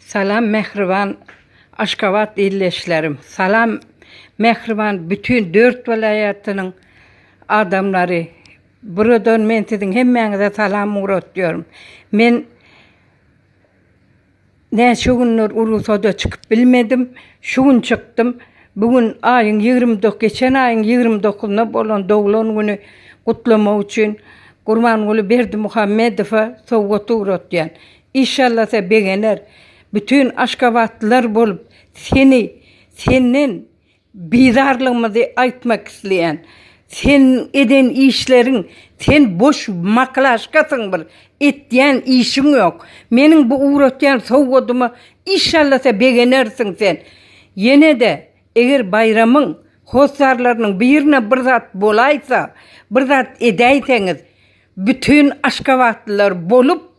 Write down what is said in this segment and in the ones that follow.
Salam mähriban Aşgabat ildeşlerim. Salam mähriban bütin dört welaýatynyň adamlary. Buradan men siziň hemmäňize salam ugratýaryn. Men Näçe günler urugsada çykyp bilmedim. Şu gün çykdym. Bu gün aýyň ýigrimi dok geçen aýyň ýigrimi dokuzyna bolan doglan güni gutlamak üçin Gurbanguly Berdimuhamedowa sowgat ugratýan. Işallasa begener. Bütin aşgabatlylar bolup seni senden Bizarlygymyzy aýtmak isleýän. Seniň eden işleriň sen boş maklaşkasyň bir etýän işiň ýok. Meniň bu ugratýan sowgadyma işallasa begenersiň sen. Ýenede eger baýramyň hossarlarynyň birine bir zat bolaýsa, bir zat edäýseňiz. Bütin aşgabatlylar bolup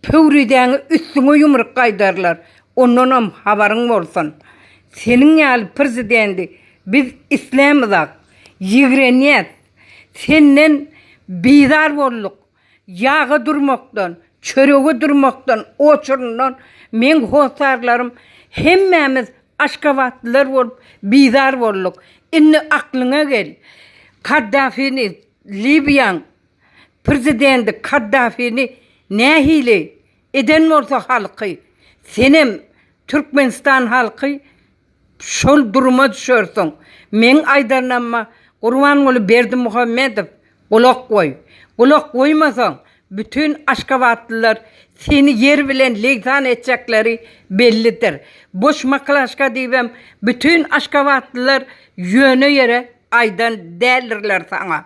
Pöwrizäňe üstüňe ýumruk gaýdarlar, ondanam habaryň bolsun. Seniň ýaly przidendi biz islämizak, ýigrenýäs. Senden bizar bolduk. Ýaga durmakdan, çörege durmakdan oçuryndan meň hossarlarym hemmämiz aşgabatlylar bolup bizar bolduk. Indi aklyňa gel. Kaddafini Libiýaň Przidendi Kaddafini nähili eden bolsa halky senem Türkmenistan halky şol duruma düşersiň meň aýdanama Gurbanguly Berdimuhamedow gulak goý gulak goýmasaň Bütün aşgabatlylar seni ýer bilen legsan etjekleri bellidir. Boş maklaşka diýibem bütün aşgabatlylar ýöne ýere aýdan däldirler saňa.